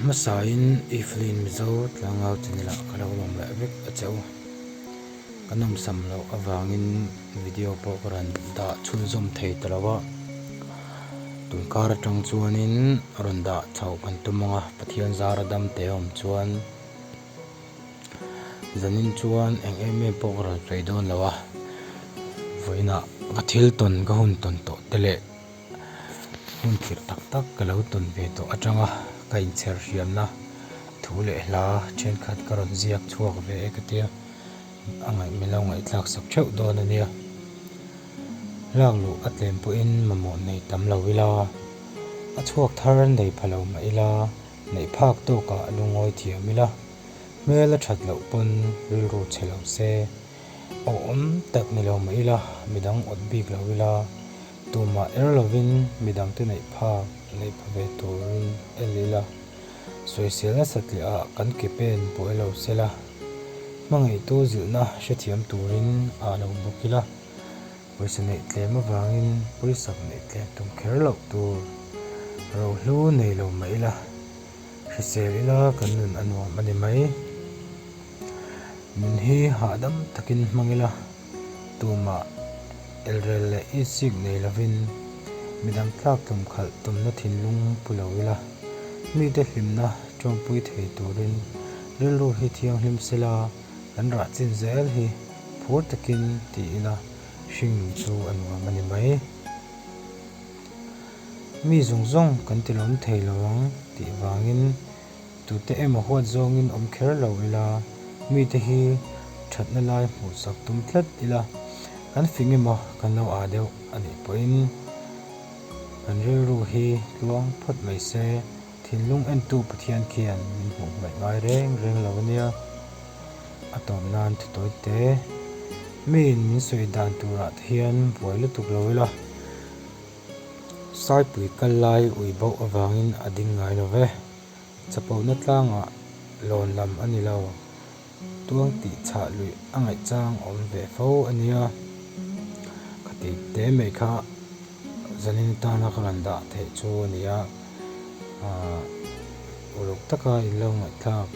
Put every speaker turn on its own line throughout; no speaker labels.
Hmasain Evelyn Mizo tlangau ten ila ka lo awm leh vek a che u. Ka nawmsam loh avangin video pawh ka rawn dah chhunzawm thei ta lo a. Tumkar atang chuanin a rawn dah chhoh kan tum ang a, Pathian zar a dam teh awm chuan zanin chuan eng em em pawh ka rawn sawi dawn lo a. Vawiinah ka thil tawn ka hun tawn tawh te leh. Hmun thirh tak tak ka lo tawn ve tawh atanga ka inchher hriamna thu leh hla thenkhat ka rawn ziak chhuak ve e ka tia, a ngaih min lo ngaihtlak sak theuh dawn ania. Lak luh a tlem pawhin mamawh nei tam lo ila, a chhuak thar nei pha lo mah ila, neih phak tawkah a lu ngawi thiam ila, hmel a that loh pawn rilru che lo se, awh awm tak ni lo mah ila, midang awt bik lo ila. Tumah er lovin midangte neih phak, neih pha ve turin el ila, sawi sel nasat lehah kan ke pen pawh e lo se la, hmangaihtu zilhna hrethiam turin a lo bawk ila, pawisa neih tlem avangin pawisa neih tlem tum kher loh tur rohlu nei lo mah ila, hrisel ila kan nun a nuam a ni mai. Min hi hahdam takin hmang ila. tumah elrel leh isik nei lovin midang tlak tum khalh tumna thinlung pu lo ila, mite hlimna tawngpui thei turin rilru hi thianghlim sela kan rah chin zel hi phur takin ti ila hring chu a nuam a ni mai. Mi zawng zawng kan tilawm thei lo ang tih vangin. Tute emaw huat zawngin awm kher lo ila, mite hi thatna lai hmuh sak tum tlat ila, kan fing emaw kan lo â deuh a nih pawhin kan rilru hi tluang phawt mai se. Thinlung entu Pathian khian min hmuh hmaih ngai reng reng lo ania, a tawp nan thutawite miin min sawi dan turah te hian buai lutuk lo ila. Saipui kal lai ui bauh avangin a ding ngai lo ve. Chapona tlangah lawn lam a ni lo. Tuang tih chhah luih a ngaihchang awm ve fo a nia. Ka tih te mai kha zanin tana ka rawn dah theih chu a ni a. Aah uluk taka in lo ngaihthlak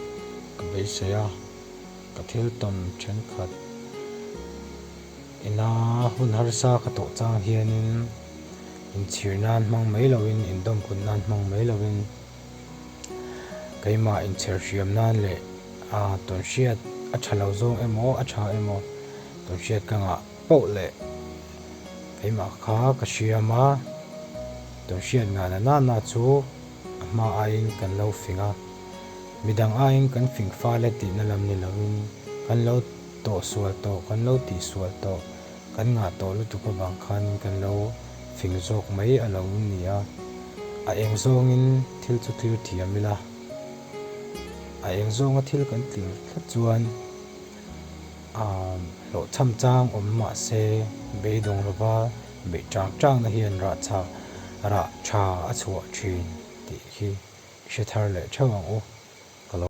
ka beisei a, ka thil tawn thenkhat. Ina hun harsa ka tawh chang hianin inchhir nan hmang mai loin indawm kut nan hmang mai loin keimah inchher hriam nan leh tawn hriat a tha lo zawng emaw a tha emaw tawn hriat ka ngah poh leh keimah kha ka hriam a, tawn hriat ngah na nana chu a hma aiin kan lo fing a, midang aiin kan fing fal e tihna lam ni loin kan lo. tawh sual tawh, kan lo tih sual tawh, kan ngah tawh lutuk avang khanin kan lo fing zawk mai a lo ni a, a eng zawngin thil chu tlir thiam ila, a eng zawnga thil kan tlir tlat chuan a hlawhchham chang awm mahse beidawng lova beih chang changna hian rah chha rah tha a chhuah thin tih hi i hre thar leh theuh ang u, ka lo.